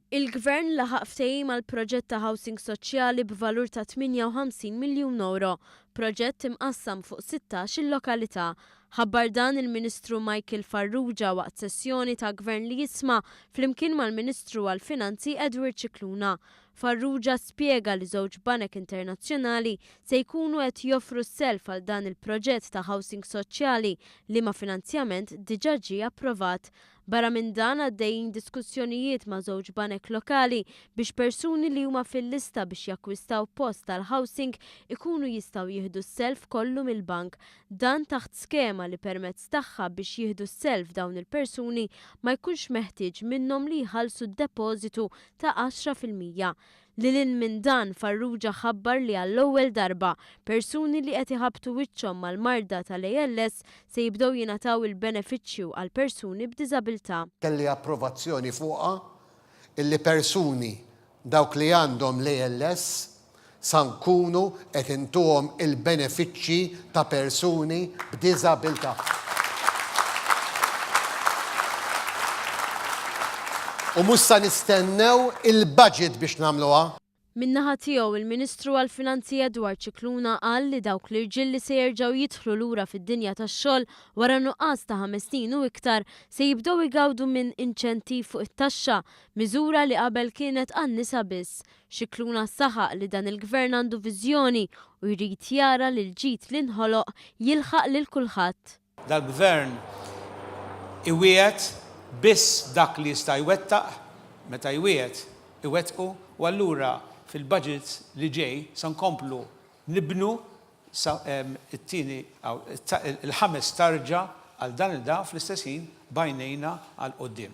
Il-Gvern laħaq ftehim għal proġett ta' housing soċjali b'valur ta' 58 miljun ewro, proġett imqassam fuq 16-il lokalità. Ħabbar dan il-Ministru Michael Farrugia waqt sessjoni ta' Gvern li jisma' flimkien mal-Ministru għall-Finanzi Edward Scicluna. Farrugia spjega li żewġ banek internazzjonali se jkunu qed joffru s-self għal dan il-proġett ta' housing soċjali liema finanzjament diġà ġie approvat. Barra minn dan għaddejjin diskussjonijiet ma' żewġ banek lokali biex persuni li huma fil-lista biex jakkwistaw post tal-housing ikunu jistgħu jieħdu s-self kollu mill-bank. Dan taħt skema li permezz tagħha biex jieħdu s-self dawn il-persuni ma jkunx meħtieġ minnhom li jħallsu d-depożitu ta' għaxra fil-mija. Lil hinn minn dan, Farrugia ħabbar li għall-ewwel darba, persuni li qed iħabbtu wiċċhom mal-marda tal-ALS se jibdew jingħataw il-benefiċċju għal persuni b'diżabilità. Kelli approvazzjoni fuqha li persuni, dawk li għandhom l-ALS, sa nkunu qed intuhom il-benefiċċji ta' persuni b'diżabilità. U mhux sa nistennew il-budget biex nagħmluha. Min-naħa tiegħu, il-Ministru għall-Finanzi Edward Scicluna qal li dawk l-irġiel li se jerġgħu jidħlu lura fid-dinja tax-xogħol wara nuqqas ta' ħames snin u iktar se jibdew igawdu minn inċentiv fuq it-taxxa, miżura li qabel kienet għan-nisa biss. Scicluna saħaq li dan il-Gvern għandu viżjoni u jrid jara li l-ġid li nħoloq jilħaq lil kulħadd. Dal-Gvern iwiegħed biss dak li jista' jwettaq, meta jwiegħed iwettqu u allura fil-budget li ġej se nkomplu nibnu sa t-tieni il-ħames tarġa għal dan il-da fl-istess ħin b'għajnejna għall-quddiem.